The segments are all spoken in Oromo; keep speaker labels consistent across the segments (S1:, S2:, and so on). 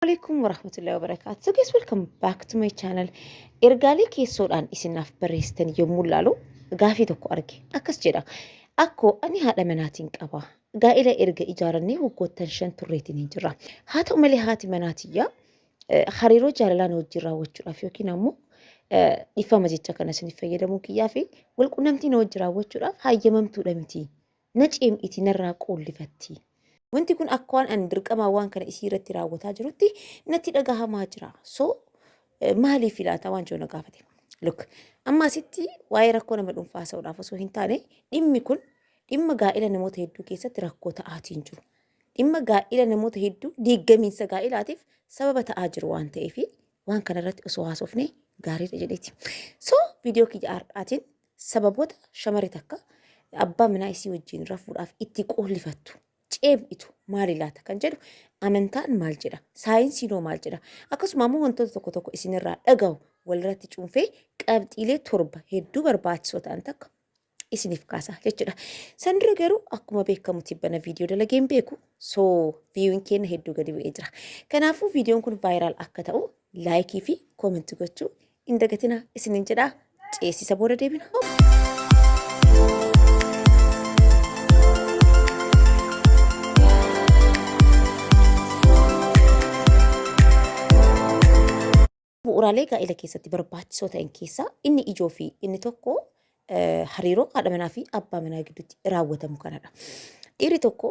S1: Assalamualaikum warahmatullahi wabarakatuh. So guys welcome back to my channel. Ergaalee keessoodhaan isinaaf barreessitan yommuu ilaalu gaafii tokko arge. Akkas jedha. Akkoo ani haadha manaatiin qaba. Gaa'ila erga ijaarannee waggoottan shan turreetiin hin jirra. Haa ta'u malee haati manaatiyyaa eh, hariiroo jaalalaan wajjin raawwachuudhaaf yookiin ammoo eh, dhiifama jecha kana isiniif fayyadamuu kiyyaa fi walqunnamtii na wajjin raawwachuudhaaf hayyamamtuudha miti. Na ceem'iti narraa qoollifatti. Wanti kun akka waan an dirqamaa waan kana isii irratti raawwataa jirutti natti dhagahamaa jira. So maaliif ilaataa waan jiru na gaafate. Look, amma asitti waa'ee rakkoo nama dhuunfaa haasa'uudhaaf osoo hin taane dhimmi kun dhimma gaa'ila namoota hedduu keessatti rakkoo ta'aatiin jiru. Dhimma gaa'ila namoota hedduu diiggamiinsa gaa'ilaatiif sababa ta'aa jiru waan ta'eef waan kanarratti osoo haasofne gaariidha jedheeti. So viidiyoo kiyya har'aatiin Sababoota shamari takka abbaa minaa isii wajjiin rafuudhaaf itti qoollifattu, ceeph'itu, maali laata kan jedhu amantaan maal jedha? Saayinsiin hoo maal jedha? Akkasuma ammoo wantoota tokko tokko isin irraa dhagahu walirratti cuunfee qabxiilee torba hedduu barbaachisoo ta'an takka isiniif kaasa jechuudha. San dura garuu akkuma beekamu tibbana viidiyoo dalageen beeku soo viiyuun keenya hedduu gadi bu'ee jira. Kanaafuu viidiyoon kun vaayiraal akka ta'u laayikii fi koomentii gochuu Hin dagatina isinin jedha ceesisa booda deebina. Bu'uuraalee gaa'ela keessatti barbaachisoo ta'an keessaa inni ijoo fi inni tokko hariiroo haadha manaa fi abbaa manaa gidduutti raawwatamu kanadha. Dhiirri tokko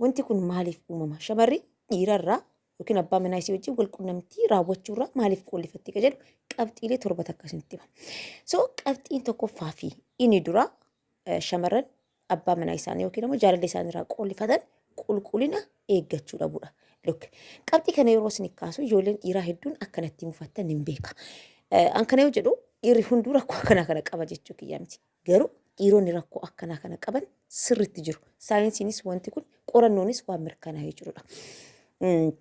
S1: Wanti kun maaliif uumama? Shamarri dhiirarraa yookiin abbaa manaa isii wajjin wal qunnamtii raawwachuurraa maaliif qoollifatti ka jedhu qabxiilee torba takka isinitti hima. So qabxiin tokkoffaa fi inni dura eh, shamarran abbaa manaa isaanii yookiin immoo jaalallee isaanii irraa qoollifatan qulqullina eeggachuu dhabuudha. Look, qabxii kana yeroo isin kaasu ijoolleen dhiiraa hedduun akkanatti mufattan hin beeka. Eh, An kana yoo jedhu dhiirri hunduu rakkoo akkanaa kana qaba jechuu kiyya miti. Garuu dhiironni rakkoo akkanaa kana qaban sirriitti jiru. Saayinsiinis wanti kun qorannoonis waan mirkanaa'ee jirudha. Mm,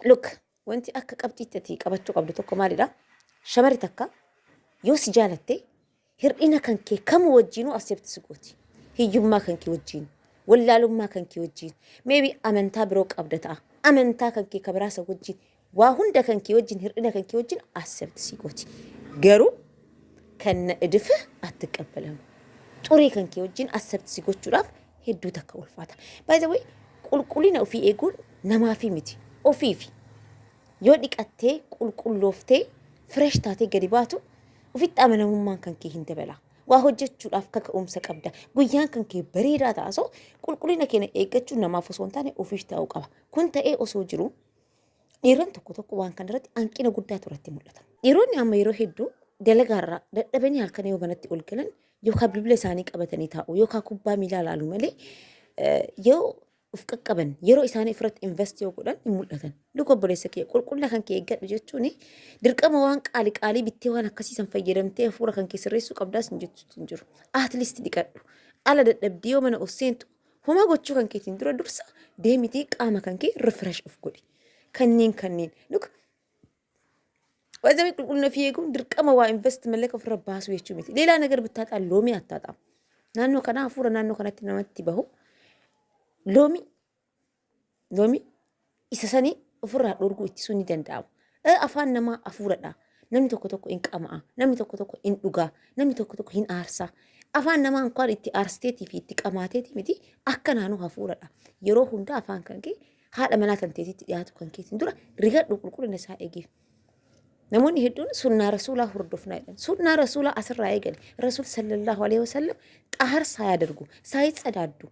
S1: Look, wanti akka qabxiitti ati qabachuu qabdu tokko maalidha? Shamarri takka yoo si jaalatte hir'ina kan kee kamuu wajjiinuu accept si gooti. Hiyyummaa kan kee wajjiin, wallaalummaa kan kee wajjiin, maybe amantaa biroo qabda ta'a. Amantaa kan kee kabiraasa wajjiin Waa hunda kan kee wajjin hir'ina kan kee wajjin accept sii gooti. Garuu kan na edif attiqabbalamu. Xurii kan kee wajjin accept si gochuudhaaf hedduu takka ulfaata. By the way, qulqullina ofii eeguun namaafii miti. Ofiifi. Yoo dhiqattee, qulqullooftee, fresh taatee gadi baatu ofitti amanamummaan kan kee hin dabala. Waa hojjechuudhaaf kaka'umsa qabda. Guyyaan kan kee bareedaa ta'a. So qulqullina keenya eeggachuun namaaf osoo hin taane ofiif ta'uu qaba. Kun ta'ee osoo jiru Dhiironni tokko tokko waan kana irratti hanqina guddaatu irratti mul'ata. Dhiironni amma yeroo hedduu dalagaarraa dadhabanii halkan yoo manatti ol galan yookaan bilbila isaanii qabatanii taa'u yookaan kubbaa miilaa ilaalu malee yoo of qaqqaban yeroo isaanii ofirratti invest yoo godhan hin mul'atan. Luka obboleessa kee qulqulla kan kee eeggadhu jechuun dirqama waan qaali qaalii bittee waan akkasiisan fayyadamtee hafuura kan kee sirreessuu qabdaas hin jettu hin jiru. At least dhiqadhu. Ala dadhabdii yoo mana of seentu Homaa gochuu kan keetiin dura dursa deemitii qaama kan kee refresh of godhi. Kanneen kanneen. Look, Waazamee qulqullina ofii eeguun dirqama waa invest mallaqa ofirra baasuu jechuu miti. Leelaa nagar bittaaxaa loomii attaaxaa. Naannoo kanaa hafuura naannoo kanatti namatti bahu. Loomii Lomi isa sanii ofirraa dhorguu ittisuu ni danda'ama. Ee, Afaan namaa hafuuradha. Namni tokko tokko hin qama'a. Namni tokko tokko hin dhugaa. Namni tokko tokko hin aarsa. Afaan namaa inkaan itti aarsteetii fi itti qamaateetii miti akka naanoo hafuuradha. Yeroo hundaa afaan kan kee haadha manaa kan teetitti dhiyaatu kan keetiin dura rigadhu qulqullina isaa eegeef. Namoonni hedduun sunnaa rasuulaa hordofnaa jedhan. Sunnaa rasuulaa asirraa eegale. Rasuul sallallahu alaihi wasallam xaharsaa yaa dargu, saa hin sadaaddu.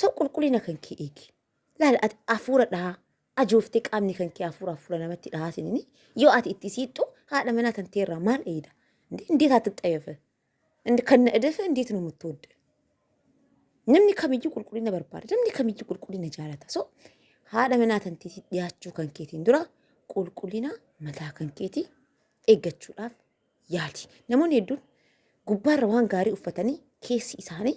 S1: So qulqullina kan kee eegi. Laal ati hafuura dhahaa ajooftee qaamni kan kee hafuura hafuura namatti dhahaa sinini yoo ati itti siixxu haadha manaa kan teerraa maal eeyda? Indee indeet ati xayafe? Indi kan na edefe indeet nu muttoodde? Namni kamiyyuu qulqullina barbaada. Namni kamiyyuu qulqullina jaalata. So haadha manaa kan teetii dhiyaachuu kan keetiin dura qulqullina mataa kan keetii eeggachuudhaaf yaali. Namoonni hedduun gubbaarra waan gaarii uffatanii keessi isaanii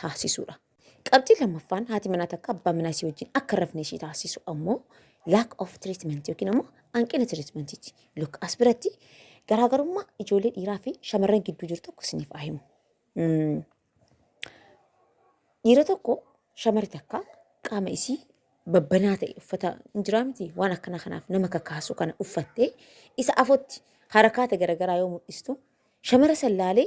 S1: taasisuudha. Qabxiin lammaffaan haati manaa takka abbaa manaa isii wajjin akka hin rafne ishii taasisu ammoo lack of treatment yookiin ammoo hanqina treatmentiiti. Look as biratti garaagarummaa ijoollee dhiiraa fi shamarran gidduu jiru tokko isiniif haa himu. Mm. Dhiira tokko shamarri takka qaama isii babbanaa ta'e uffata hin jiraa miti waan akkana kanaaf nama kakaasu kana uffattee isa afootti harakaata garagaraa yoo mul'istu shamara sallaalee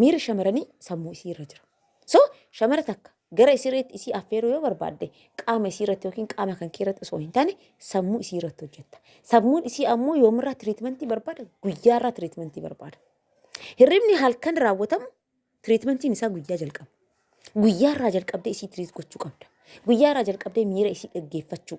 S1: Miirri shamaranii sammuu isii irra jira. So, shamara takka gara isireetti isii affeeruu yoo barbaadde, qaama isii irratti yookiin qaama kan kee irratti osoo hin taane, sammuu isii irratti hojjetta. Sammuun isii ammoo yoomirraa tiriitmentii barbaada? Guyyaarraa tiriitmentii barbaada. Hirribni halkan raawwatamu tiriitmentiin isaa guyyaa jalqaba. Guyyaarraa jalqabdee isii tiriit gochuu qabda. Guyyaarraa jalqabdee miira isii dhaggeeffachuu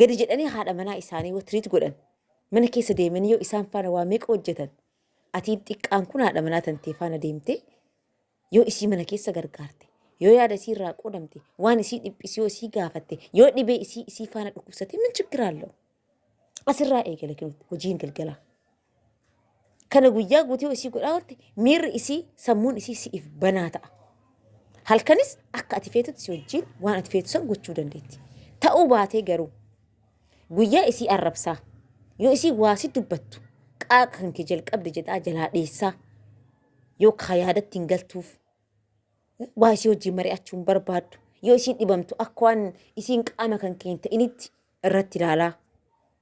S1: gadi jedhanii haadha manaa isaanii yoo tiriit godhan mana keessa deemanii yoo isaan faana waa meeqa hojjetan atiin xiqqaan kun haadha manaa tantee faana deemtee yoo isii mana keessa gargaarte yoo yaada isii irraa qoodamte waan isii dhiphisi yoo isii gaafatte yoo dhibee isii isii faana dhukkubsate min chiggiraallo asirraa eegale hojiin galgalaa. Kana guyyaa guutuu isii godhaa oolte miirri isii sammuun isii si'iif banaa ta'a. Halkanis akka ati feetutti si wajjin waan ati feetu san gochuu dandeetti. Ta'uu baatee garuu guyyaa isii arrabsaa yoo isii waa si dubbattu qaaqa kan kee jalqabde jedhaa jalaa dheessaa yoo kaa yaadatti hin galtuuf waa isii wajjin mari'achuu hin barbaaddu yoo isiin dhibamtu akka waan isiin qaama kan kee hin ta'initti irratti ilaalaa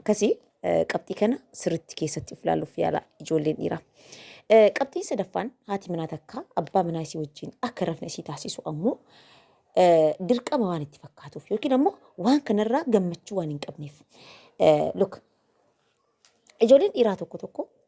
S1: Akkasii qabxii kana sirritti keessatti of ilaaluuf yaala ijoolleen dhiiraa. Qabxiin sadaffaan haati manaa takka abbaa manaa isii wajjin akka rafne isii taasisu ammoo dirqama waan itti fakkaatuuf yookiin ammoo waan kanarraa gammachuu waan hin qabneef. Luk ijoolleen dhiiraa tokko tokko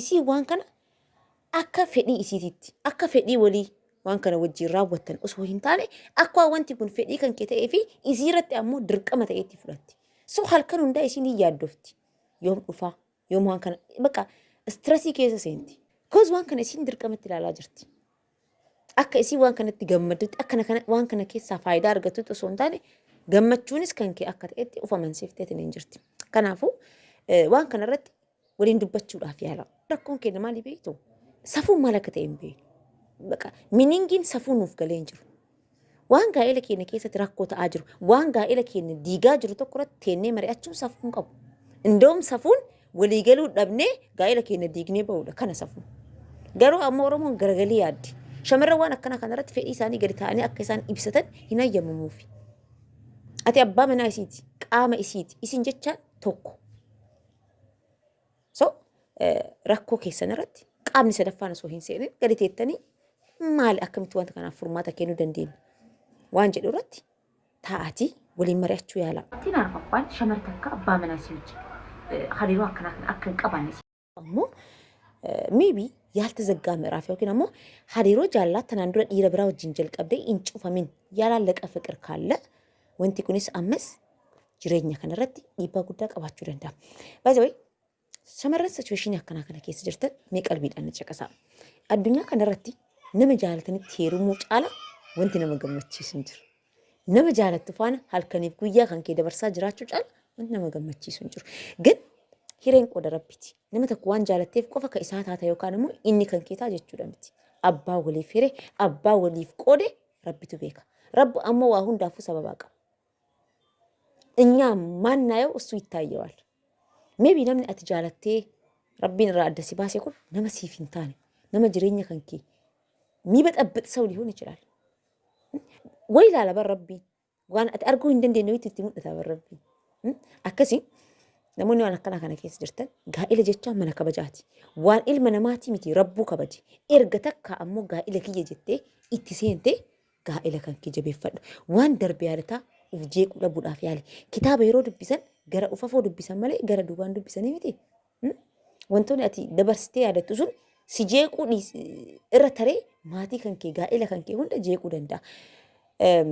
S1: Isiin waan kana akka fedhii isiititti, akka fedhii walii waan kana wajjin raawwattan osoo hin taane, akkuma wanti kun fedhii kan kee ta'ee fi isii irratti ammoo dirqama ta'ee itti fudhatti. So halkan hundaa isiin hin yaaddofti. Yoom dhufaa, yoom waan kana, baqa istirasii keessa seenti. Koos waan kana isiin dirqamatti ilaalaa jirti. Akka isiin waan kanatti gammaddutti, akka kana, waan kana keessaa faayidaa argattutti osoo hin taane, gammachuunis kan kee akka ta'etti of amansiifteetiin hin jirti. Kanaafuu eh, waan kana irratti waliin dubbachuudhaaf yaala. Rakkoon keenya maali beektu? Safuun maal akka ta'e hin beeknu. Baqa miningiin safuu nuuf galee hin jiru. Waan gaa'ela keenya keessatti rakkoo ta'aa jiru, waan gaa'ela keenya diigaa jiru tokko irratti teennee mari'achuun safuu hin qabu. Indoom safuun waliigaluu dhabnee gaa'ela keenya diignee ba'uudha kana safuun. Garuu ammoo Oromoon garagalii yaaddi. Shamarran waan akkanaa kanarratti fedhii isaanii gadi taa'anii akka isaan ibsatan hin hayyamamuufi. Ati abbaa manaa isiiti, qaama isiiti, isin jechaan tokko. So rakkoo keessan irratti qaamni sadaffaan osoo hin seenin gadi teettanii maali akkamitti wanta kanaaf furmaata kennuu dandeenya waan jedhu irratti taa'atii waliin mari'achuu yaalaa. Ittiin arfaffaan shamar takka abbaa manaa si wajjin hariiroo akkanaa kana akka hin qabaanne si ammoo maybe yaaltazaggaa ምዕራፍ yookiin ammoo hariiroo jaalalaa tanaan dura dhiira biraa wajjin jalqabdee hin cufamin yaalaallaqa fiqir kaalla Wanti kunis ammas jireenya kanarratti dhiibbaa guddaa qabaachuu danda'a. By the way, shamarran situweeshinii akkanaa kana keessa jirtan mee qalbiidhaan na caqasaa. Addunyaa kanarratti nama jaalatanitti heerumuu caala wanti nama gammachiisu hin jiru. Nama jaalattu faana halkaniif guyyaa kan kee dabarsaa jiraachuu caala wanti nama gammachiisu hin jiru. Gan hireen qooda rabbiiti. Nama tokko waan jaalatteef qofa kan isaa taata yookaan immoo inni kan kee ta'a jechuudha miti. Abbaa waliif hire, abbaa waliif qoode Rabbitu beeka. Rabbu ammoo waa hundaafuu sababaa qaba. Inyaa maannaayoo ussuu ittaayyewaal. Meebii namni ati jaalattee rabbiin irraa adda si baase kun nama siif hin taane nama jireenya kan kee miiba xabbixsau lihoon ichilaal. Way ilaala bar rabbii Waan ati arguu hin dandeenye wayiitu itti mul'ata bar rabbi. Hmm? Akkasi namoonni waan akkanaa kana keessa jirtan gaa'ila jechaa mana kabajaati. Waan ilma namaatii miti rabbuu kabaji. Erga takka ammoo gaa'ila kiyya jettee itti seente gaa'ila kan kee jabeeffadhu. Waan darbe yaadataa uf jeequu dhabuudhaaf yaali. Kitaaba yeroo dubbisan gara ufafoo dubbisan malee gara duubaan dubbisanii miti. Hmm? Wantoonni ati dabarsitee yaadattu sun si jeequu dhiis- irra taree maatii kan kee gaa'ela kan kee hunda jeequu danda'a. Em,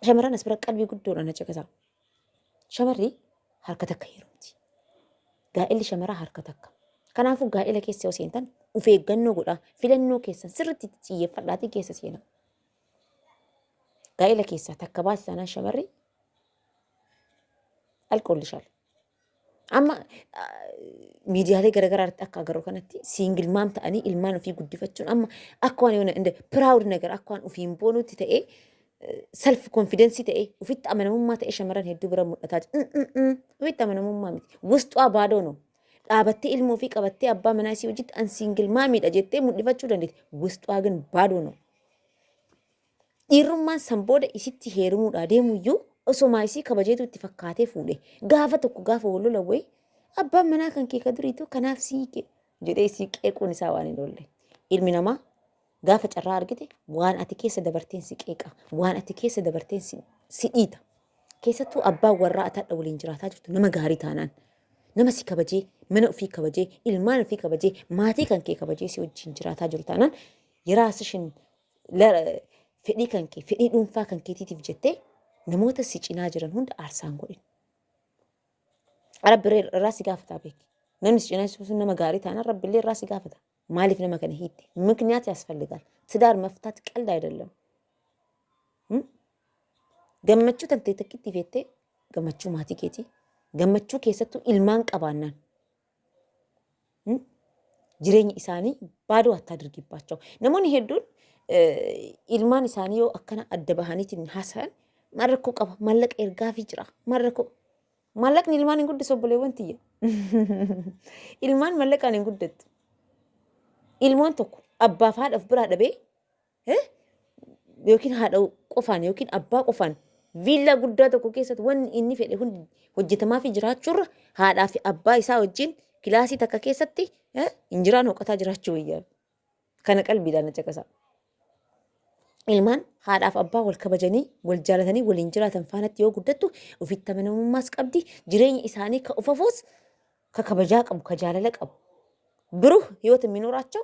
S1: Shamarran as bira qalbii guddoodhaan na caqasaa. Shamarri harka takka heerumti. Gaa'elli shamaraa harka takka. Kanaafuu gaa'ela keessa yoo seentan of eeggannoo godhaa filannoo keessan sirriitti itti xiyyeeffadhaatii keessa seenaa. Gaa'ela keessaa takka baate taanaan shamarri alkoolli shaala. Amma miidiyaalee garaagaraa irratti akka agarru kanatti siingil maam ta'anii ilmaan ofii guddifachuun amma akka waan yoona inda piraawud nagar akka waan ofiin boonutti ta'ee self confidensii ta'ee ofitti amanamummaa ta'ee shamarran hedduu bira mul'ataa jira. Ofitti amanamummaa miti. Wusxuwaa baadoo no. Dhaabattee ilmoo fi qabattee abbaa manaa isii hojitti an siingil maamiidha jettee mul'ifachuu dandeetti. Wusxuwaa gin baadoo no. Dhiirrummaan san booda isitti heerumuudhaa deemuyyuu osomaa isii kabajeetu itti fakkaatee fuudhe. Gaafa tokko gaafa wal lolan wayi abbaan manaa kan kee ka duriitu kanaaf si hiike jedhee isii qeequun isaa waan hin oolle. Ilmi namaa gaafa carraa argite waan ati keessa dabarteen si qeeqa waan ati keessa dabarteen si, si dhiita keessattuu abbaan warraa ati hadha waliin jiraataa jirtu nama gaarii taanaan nama si kabajee mana ofii kabajee ilmaan ofii kabajee maatii kan kee kabajee si wajjin jiraataa jiru taanaan yeraa sishin fedhii kan kee fedhii dhuunfaa kan keetiitiif jettee namoota si cinaa jiran hunda aarsaan godhin. Rabbi irraa si gaafataa beeki. Namni si cinaa sun nama gaarii taanaan rabbi illee irraa si gaafata. Maaliif nama kana hiitte? Mikniyaat yaasfalligaal. Tidaar maftaat qalda ayidallam. Gammachuu tantee takkitti feettee gammachuu maatii keetii gammachuu keessattuu ilmaan qabaannaan Hmm? Jireenyi isaanii baaduu hattaa dirgibbaachoo. Namoonni hedduun eh, ilmaan isaanii yoo akkana adda bahaniitiin haasa'an maal rakkoo qaba? Maallaqa ergaafii jira. Maal rakkoo? Maallaqni ilmaan hin guddisu obboleewwan tiyya. ilmaan maallaqaan hin guddattu. Ilmoon tokko abbaaf haadhaaf biraa dhabee eh, yookiin haadha qofaan yookiin abbaa qofaan viillaa guddaa tokko keessatti wanni inni fedhe hundi hojjetamaa fi jiraachuurra haadhaa fi abbaa isaa wajjin kilaasii takka keessatti eh, injiraan hoqataa jiraachuu wayyaa. Kana qalbiidhaan na caqasaa. Ilmaan haadhaaf abbaa wal kabajanii, wal jaalatanii, waliin jiraatan faanatti yoo guddattu ofitti amanamummaas qabdi. Jireenya isaanii ka ufafuus ka kabajaa qabu, ka jaalala qabu. Biruh hiyootin minoraachoo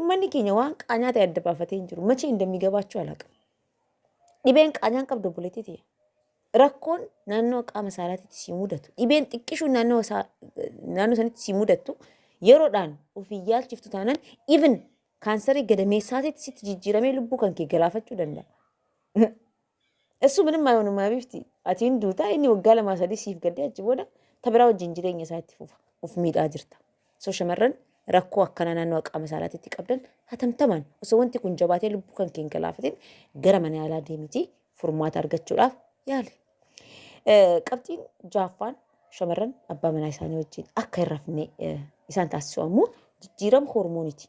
S1: Ummanni keenya waan qaanyaa ta'e adda baafatee hin jiru. Machii indammigabaachuu alaqa. Dhibeen qaanyaan qabdu obboleettii ta'e. Rakkoon naannoo qaama saalaatitti si mudatu. Dhibeen xiqqishuun naannoo isaa- naannoo sanitti si mudattu yeroodhaan ofii yaalchiftu taanaan even kaansarii gadameessaatitti sitti jijjiiramee lubbuu kan kee galaafachuu danda'a. Eessuu minim maayonumaa bifti atiin duutaa inni waggaa lamaa sadii siif gaddee achi booda tabiraa wajjin jireenya isaa itti fufa of miidhaa jirta. So shamarran rakkoo akkanaa naannoo qaama saalaatitti qabdan hatamtamaan osoo wanti kun jabaatee lubbuu kan keen galaafatin gara mana yaalaa deemitii furmaata argachuudhaaf yaali. Qabxiin jaaffaan shamarran abbaa manaa isaanii wajjin akka hin rafne isaan taasisu ammoo jijjiirama hormooniiti.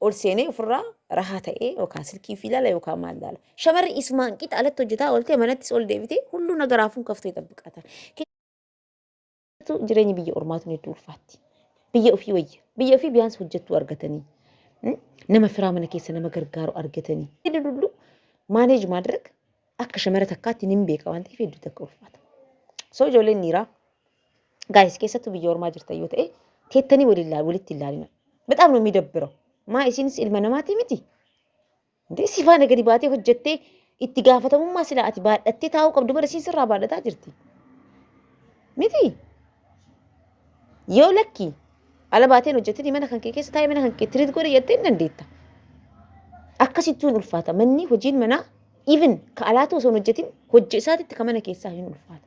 S1: ol seenee ofirraa rahaa ta'ee yookaan silkii fi ilaala yookaan maal ilaala. Shamarri isumaan qixa alatti hojjetaa ooltee manattis ol deebitee hunduu naga raafuun kaftee xabbiqaatan. Jireenyi biyya ormaatuun hedduu ulfaatti. Biyya ofii wayya. Biyya ofii biyyaansi hojjettuu argatanii. Nama firaa mana keessa nama gargaaru argatanii. Inni dulluu maaneej maadirag akka shamara takkaatti nin beeka waan ta'eef hedduu takka ulfaata. Soo ijoolleen dhiiraa Gaayis keessattuu biyya ormaa jirtan yoo ta'e teettanii walitti hin laalina. Bexaam nu midabbira. Maa isiinis ilma namaatii miti. Dee si faana gadi baatee hojjettee itti gaafatamummaa silaa ati baadhattee taa'uu qabdu bara isiin sirraa baadhataa jirti. Miti. Yoo lakki ala baateen hojjettanii mana kan kee keessa taa'ee mana kan kee tiriit godhe jettee hin dandeetta. Akkasittuu hin ulfaata. Manni hojiin manaa even ka alaatu osoo hin hojjetin hojja isaatitti ka mana keessaa hin ulfaata.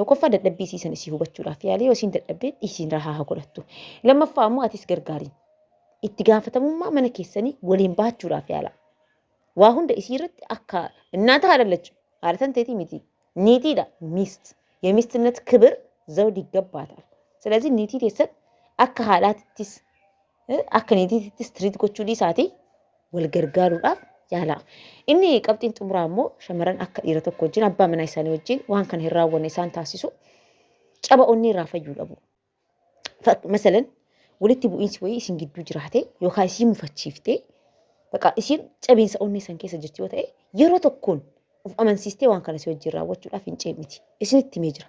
S1: Tokkoffaa dadhabbii isii san isii hubachuudhaaf yaali yoo isiin dadhabde dhiisiin rahaa haa godhattu. Lammaffaa ammoo atis gargaariin. Itti gaafatamummaa mana keessanii waliin bahachuudhaaf yaala. Waa hunda isii irratti akka innaata haa dhallachu. Haadha tan teetii miti. Niitiidha. Miist. Yemistinnat kibir zawdi gabbaataaf. Silazii niitii teessan akka haadhaatittis akka niitiitti istiriit gochuu dhiisaati wal gargaaruudhaaf yaalaa. Inni qabxiin xumuraa immoo shamarran akka dhiira tokko wajjin abbaa manaa isaanii wajjin waan kana hin raawwanne isaan taasisu caba onnee irraa fayyuu dhabu. Masalan walitti bu'iinsi wayii isin gidduu jiraate yookaan isii mufachiifte baqa isiin cabiinsa onnee san keessa jirti yoo ta'e yeroo tokkoon of amansiistee waan kana si wajjin raawwachuudhaaf hin ceemiti. Isinitti himee jira.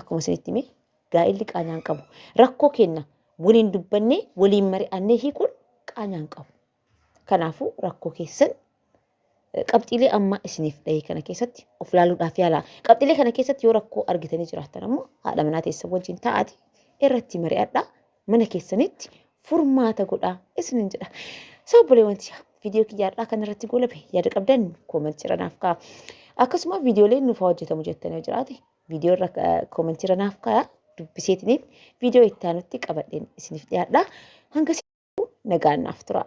S1: Akkuma isinitti hime gaa'illi qaanyaa hin qabu. Rakkoo keenna waliin dubbannee waliin mari'annee hiikuun qaanyaa hin qabu. Kanaafuu rakkoo keessan eh, qabxiilee amma isiniif dhahee kana keessatti of ilaaluudhaaf yaalaa. Qabxiilee kana keessatti yoo rakkoo argitanii jiraattan ammoo haadha manaa teessan wajjin taa'aati irratti mari'adhaa mana keessanitti furmaata godhaa isinin jedha. Soo obboleewwan tiyaa viidiyoo kiyyaadhaa kan irratti goolabe yaada qabdan koomantii irra naaf ka'a. Akkasuma viidiyooleen nuuf haa hojjetamu jettanii yoo jiraate viidiyoo irra koomentii irra naaf kaaya dubbiseetiniin viidiyoo itti aanutti qabadheen isiniif dhiyaadha. Hanga nagaan naaf turaa.